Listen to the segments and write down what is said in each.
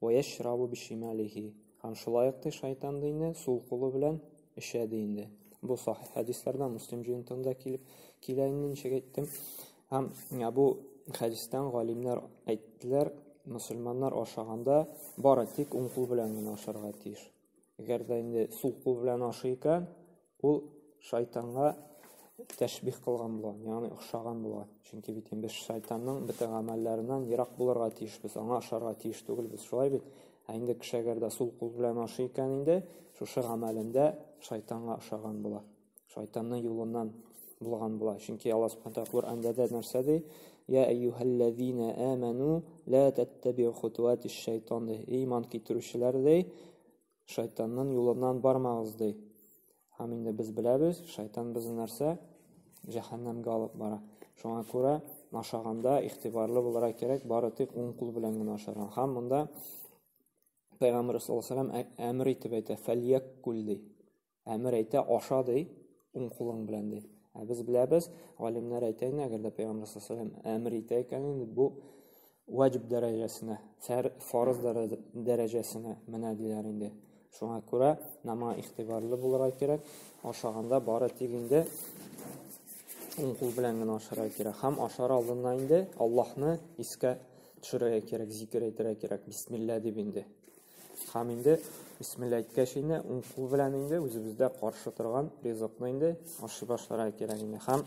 «Вәяшрабу бишималихи» һәм шулай ук ди шайтан ди инде, сул кулы белән эчә ди инде. Бу сахих хәдисләрдән Муслим җыентыгында килеп килә инде, ничек әйттем. Һәм бу хәдистән галимнәр әйттеләр, мусульманнар ашаганда бары тик уң кул белән генә ашарга тиеш. Әгәр дә инде сул кул белән ашый икән, ул шайтанга тәшбих кылган була, ягъни охшаган була. Чөнки бит без шайтанның бөтен гамәлләреннән ерак булырга тиешбез, аңа ошарга тиеш түгелбез. Шулай бит? Ә инде кеше әгәр дә сул кул белән ашый икән инде, шушы гамәлендә шайтанга ошаган була. Шайтанның юлыннан булган була. Чөнки Алла Субхану тагала Коръәндә дә нәрсә ди? Я әйюһәлләзина аману ла таттабиу хутуатиш шайтан. Иман китерүчеләр ди, шайтанның юлыннан бармагыз ди һәм инде без беләбез шайтан безне нәрсә җәһәннәмгә алып бара шуңа күрә ашаганда игътибарлы булырга кирәк бары тик уң кул белән генә ашарга һәм монда пайгамбарыбыз саллаллаху алейхи әмер итеп әйтә фәльяккул ди Әмер әйтә, аша ди, уң кулың белән ди. Ә без беләбез, галимнәр әйтә инде, әгәр дә Пәйгамбәр саллаллаһу әмер итә икән, инде бу ваҗиб дәрәҗәсенә, фарыз дәрәҗәсенә менә диләр инде. Шуңа күрә нама ихтибарлы булырга кирәк. Ашаганда бары тик инде уң кул белән генә ашарга кирәк. Һәм ашар алдыннан инде Аллаһны искә төшерергә кирәк, зикер әйтергә кирәк. Бисмилла дип инде. Хам инде бисмилла әйткәч инде уң кул белән инде үзебездә каршы торган ризыкны инде ашый башларга кирәк инде хам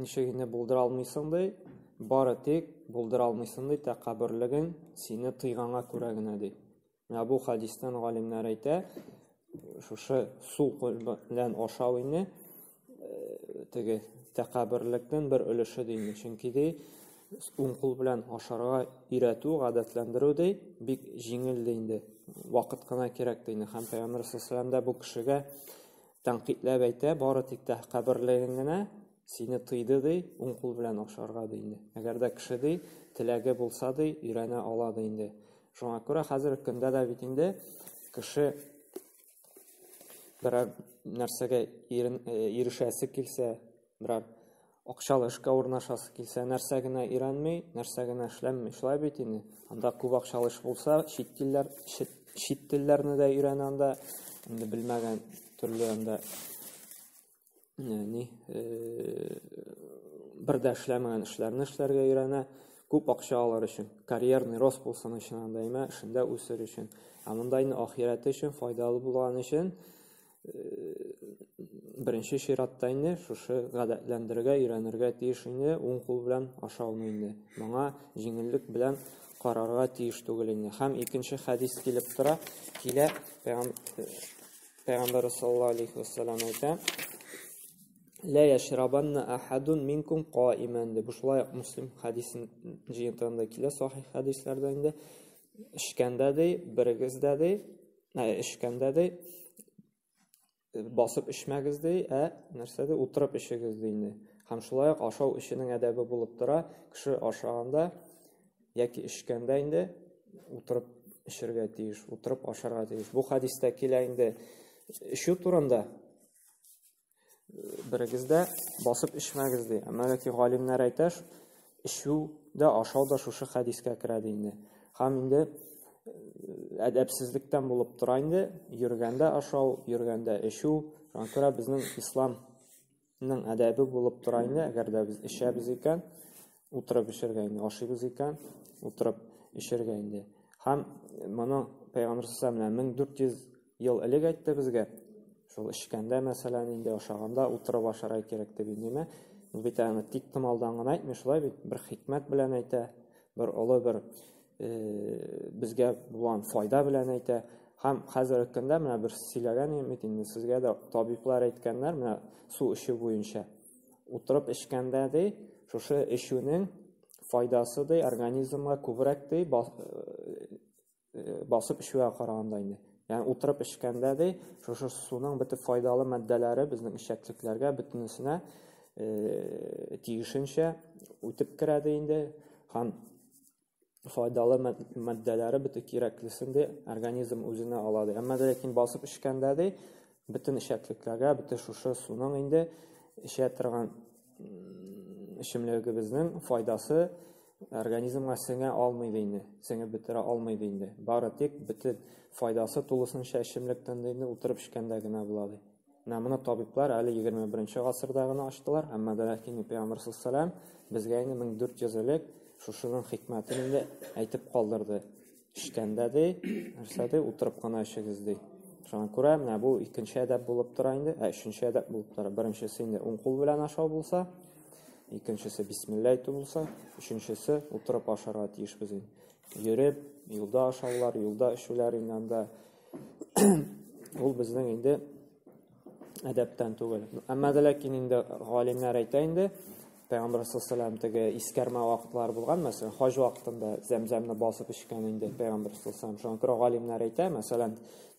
Ничек инде булдыра алмыйсың ди? Бары тик булдыра алмыйсың ди, тәкәбберлеген сине тыйганга күрә генә ди. Менә бу хадистан галимнәр әйтә, шушы су белән ашау инде э, теге тәкәбберлектән бер өлеше ди. Чөнки ди, уң кул белән ашарга өйрәтү, гадәтләндерү ди, бик җиңел ди инде. Вакыт кына кирәк ди. Һәм Пәйгамбер саллаллаху алейһи бу кешегә Тәнкыйтьләп әйтә, бары тик тә каберлеген генә сине тыйды ди, уң кул белән ашарга ди инде. Әгәр дә кеше ди, теләге булса ди, өйрәнә ала ди инде. Шуңа күрә хәзерге көндә дә бит инде кеше берәр нәрсәгә ирешәсе килсә, берәр акчалы эшкә урнашасы килсә, нәрсә генә өйрәнми, нәрсә генә эшләнми, шулай бит инде. Анда күп акчалы эш булса, чит телләр, чит, чит телләрне дә өйрәнә анда, инде белмәгән төрле анда ни бер дә эшләмәгән эшләрне эшләргә өйрәнә, күп акча алыр өчен, карьерный рост булсын өчен анда имә, эшендә үсер өчен. Ә монда инде ахирәте өчен, файдалы булган өчен, беренче чиратта инде шушы гадәтләндерергә, өйрәнергә тиеш инде, уң кул белән ашауны инде. Моңа җиңеллек белән карарга тиеш түгел инде. Һәм икенче хәдис килеп тора, килә Пәйгамбәр саллаллаһу алейхи вассалам әйтә: "Ла яшрабанна ахадун минкум каиман" дип шулай Муслим хәдисен җыентында килә, сахих хәдисләрдә инде. Эчкәндә ди, берегез дә ди, Ә эчкәндә ди басып эчмәгез ди, ә нәрсә ди утырып эчегез ди инде. Һәм шулай ук ашау эченең әдәбе булып тора. Кеше ашаганда яки эчкәндә инде утырып эчәргә тиеш, утырып ашарга тиеш. Бу хадистә килә инде эчү турында. берегез дә басып эчмәгез ди. Мәләки галимнәр әйтә, эчү дә ашау да шушы хәдискә керә ди инде. Һәм инде әдәпсезлектән булып тора инде, йөргәндә ашау, йөргәндә эчү, шуңа күрә безнең исламның әдәбе булып тора инде, әгәр дә без эчәбез икән, утырып эчәргә инде ашыйбыз икән, утырып эчәргә инде. Һәм моны Пәйгамбер сәлләмә 1400 ел элек әйтте безгә. Шул эчкәндә, мәсәлән, инде ашаганда утырып ашарга кирәк дип инде. Бит аны тик томалдан гына әйтми, шулай бит, бер хикмәт белән әйтә, бер олы бер э, безгә булган файда белән әйтә. Һәм хәзерге көндә менә бер сөйләгән инде, инде сезгә дә табиблар әйткәннәр, менә су эчү буенча. Утырып эчкәндә, ди, шушы эчүнең файдасы, ди, организмга күбрәк, ди, басып эчүгә караганда инде. Ягъни утырып эчкәндә, ди, шушы суның бөтен файдалы матдәләре безнең эчәклекләргә бөтенесенә тиешенчә үтеп керә, ди инде. Һәм файдалы матдәләре бөтен кирәклесен дә организм үзенә ала ди. Әмма ләкин басып эчкәндә ди бөтен эчәклекләргә, бөтен шушы суның инде эчә торган эчемлегебезнең файдасы организмга сеңә алмый ди инде, сеңеп бетерә алмый ди инде. Бары тик бөтен файдасы тулысынча эчемлектән ди инде утырып эчкәндә генә була ди. Менә моны табиблар әле 21 нче гасырда гына ачтылар, әмма дә ләкин Пәйгамбәр саллаллаһу безгә инде 1400 элек шушының хикмәтен инде әйтеп калдырды. Эчкәндә ди, нәрсә ди, утырып кына эчегез ди. Шуңа күрә менә бу икенче әдәп булып тора инде, ә өченче әдәп булып тора. Беренчесе инде уң кул белән ашау булса, икенчесе бисмилла әйтү булса, өченчесе утырып ашарга тиешбез инде. Йөреп, юлда ашаулар, юлда эчүләр инде анда Ул безнең инде әдәптән түгел. Әмма дә ләкин инде галимнәр әйтә инде, Пәйгамбәр саллаллаху теге искәрмә вакытлар булган, мәсәлән, хаҗ вакытында зәмзәмне басып эчкән инде Пәйгамбәр саллаллаху Шуңа күрә галимнәр әйтә, мәсәлән,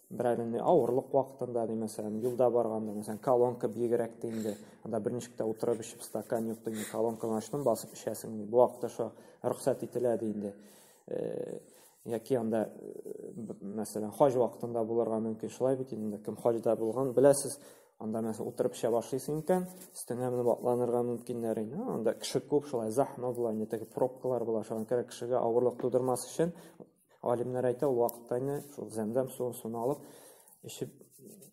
берәр инде авырлык вакытында, ди, мәсәлән, юлда барганда, мәсәлән, колонка биегрәк ди инде, анда бер ничек тә утырып эчеп стакан юк ди, колонканы ачтым, басып эчәсең ди. Бу вакытта шуңа рөхсәт ителә ди инде. Э, Яки анда, мәсәлән, хаҗ вакытында булырга мөмкин, шулай бит инде, кем хаҗда булган, беләсез, анда мәсәлән утырып эчә башлыйсың икән, өстеңә менеп атланырга мөмкиннәр инде. Анда кеше күп, шулай захма була, инде теге пробкалар була, шуңа күрә кешегә авырлык тудырмас өчен алимнәр әйтә, ул вакытта инде шул зәмзәм суын суны алып эчеп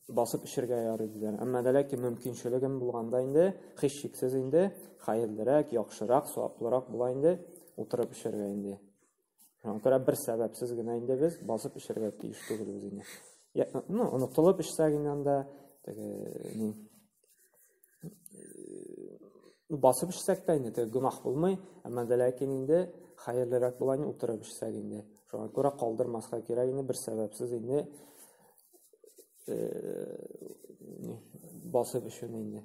басып эчергә ярый диләр. Әмма дә ләкин мөмкинчелегем булганда инде, һич шиксез инде, хәерлерәк, яхшырак, саваплырак була инде, утырып эчәргә инде. Шуңа күрә бер сәбәпсез генә инде без басып эчәргә тиеш түгел үзеңә. Я, ну, онытылып эчсәк инде анда теге ни басып эчсәк тә инде теге гөнаһ булмый, әмма дә ләкин инде хәерлерәк була инде утырып эчсәк инде. Шуңа күрә калдырмаска кирәк инде бер сәбәпсез инде э, басып эчүне инде.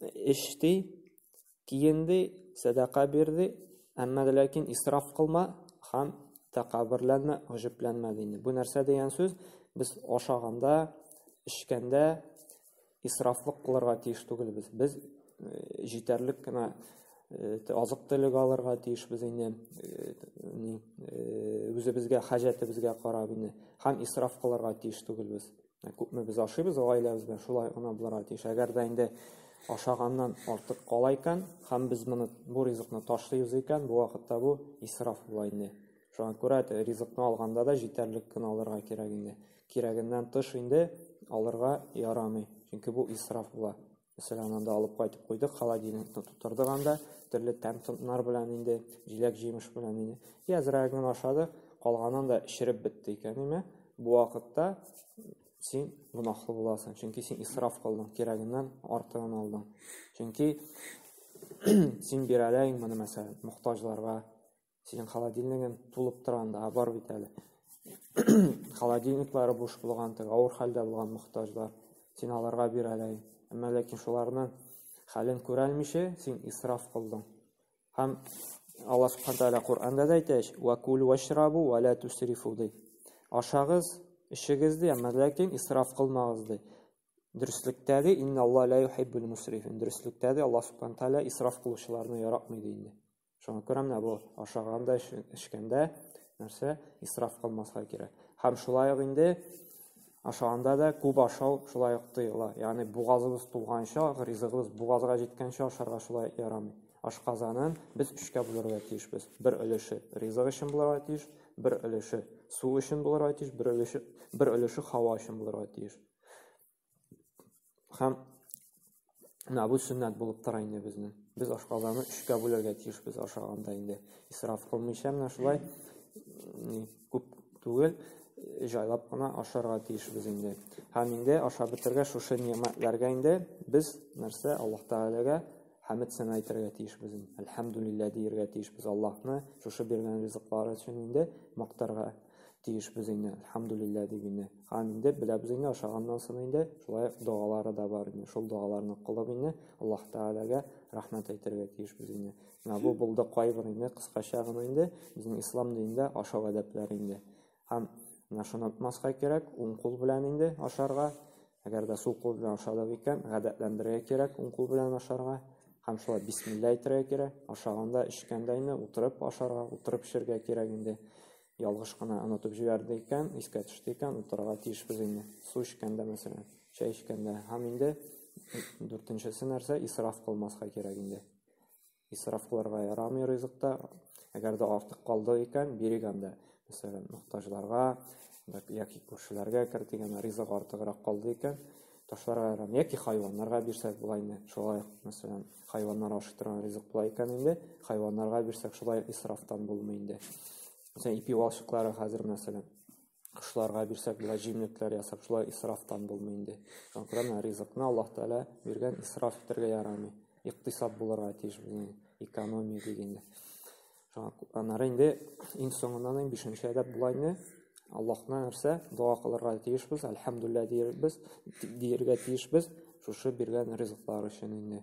эчте, киенде, сәдака бирде, әмма ләкин исраф кылма һәм тәкәбберләнмә, гөҗүпләнмә дине. Бу нәрсә дигән сүз? Без ашаганда, эчкәндә исрафлык кылырга тиеш түгелбез. Без э, җитәрлек кенә э, азык төлек алырга тиешбез инде э, үзебезгә хаҗәтебезгә карап инде һәм исраф кылырга тиеш түгелбез Ә күпме без ашыйбыз гаиләбез белән, шулай гына булырга тиеш. Әгәр дә инде ашаганнан артык кала икән, һәм без моны бу ризыкны ташлыйбыз икән, бу вакытта бу исраф була инде. Шуңа күрә ризыкны алганда да җитәрлек кенә алырга кирәк инде. Кирәгеннән тыш инде алырга ярамый, чөнки бу исраф була. Мәсәлән, аннан да алып кайтып куйдык, холодильникны тутырдык анда, төрле тәм-томнар белән инде, җиләк-җимеш белән инде. И азрак гына ашадык, калганын да эчереп бетте икән, әмма бу вакытта син гөнаһлы буласың, чөнки син исраф кылдың, кирәгеннән артыгын алдың. Чөнки син бирәләйң моны мәсәлән, мохтаҗларга, Синең холодильнигың тулып тора анда, бар бит әле. Холодильниклары буш булган, теге авыр хәлдә булган мохтаҗлар. Син аларга бир әле. Әмма ләкин шуларны хәлен күрәлмичә, син исраф кылдың. Һәм Аллаһ Субхану тәгалә Коръәндә дә әйтә, "Ва кулу вашрабу ва ла тусрифу" ди. Ашагыз, эчегез ди, әмма ләкин исраф кылмагыз ди. Дөреслектә ди, "Инна Аллаһ ла юхиббул мусрифин". Дөреслектә ди, Аллаһ Субхану тәгалә исраф кылучыларны яратмый ди инде. Шуңа күрә менә бу ашаганда, эчкәндә нәрсә исраф кылмаска кирәк. Һәм шулай ук инде ашаганда да күп ашау шулай ук тыела. Ягъни бугазыбыз тулганча, ризыгыбыз бугазга җиткәнчә ашарга шулай ярамый. Ашказанын без өчкә бүләргә тиешбез. Бер өлеше ризык өчен булырга тиеш, бер өлеше су өчен булырга тиеш, бер өлеше бер өлеше һава өчен булырга тиеш. Һәм менә бу сөннәт булып тора инде безнең. Без ашказаны өчкә бүләргә тиешбез ашаганда инде. Исраф кылмыйча менә шулай күп түгел, җайлап кына ашарга тиешбез инде. Һәм инде ашап бетергә шушы ниәмәтләргә инде без нәрсә Аллаһ Тәгаләгә хәмд сәна әйтергә тиешбез. Әлхәмдулиллаһ диергә тиешбез Аллаһны шушы биргән ризыклары өчен инде мактарга тиешбез инде, әлхәмдүлилләһ, дип инде. Һәм инде беләбез инде, ашаганнан соң инде шулай догалары да бар инде. Шул догаларны кылып инде Аллаһ Тәгаләгә рәхмәт әйтергә тиешбез инде. Менә бу булды кайбер инде кыскача гына инде безнең ислам динендә ашау әдәпләре инде. Һәм менә шуны онытмаска кирәк, уң кул белән инде ашарга, Әгәр дә сул кул белән ашадык икән, гадәтләндерергә кирәк уң кул белән ашарга һәм шулай бисмилла әйтергә кирәк. Ашаганда, эчкәндә инде утырып ашарга, утырып эчәргә кирәк инде. Ялгыш кына онытып җибәрде икән, искә төште икән, утырырга тиешбез инде. Су эчкәндә, мәсәлән, чәй эчкәндә һәм инде дүртенчесе нәрсә, исраф кылмаска кирәк инде. Исраф кылырга ярамый ризыкта. Әгәр дә артык калды икән, бирик анда. Мәсәлән, мохтаҗларга яки күршеләргә кер дигән ризык артыграк калды икән, ташларга ярамый. Яки хайваннарга бирсәк була инде. Шулай, мәсәлән, хайваннар ашый торган ризык була икән инде, хайваннарга бирсәк шулай исрафтан булмый инде. Мәсәлән, ипи валчыклары хәзер мәсәлән кошларга бирсәк болай җимлекләр ясап шулай исрафтан булмый инде конкретно ризыкны аллаһ тәгалә биргән исраф итәргә ярамый икътисад булырга тиеш безнең экономия дигәндә шуңа аннары инде иң соңыннан иң бишенче әдәп була инде аллаһны нәрсә дога кылырга тиешбез әлхәмдулилля диярбез дияргә тиешбез шушы биргән ризыклар өчен инде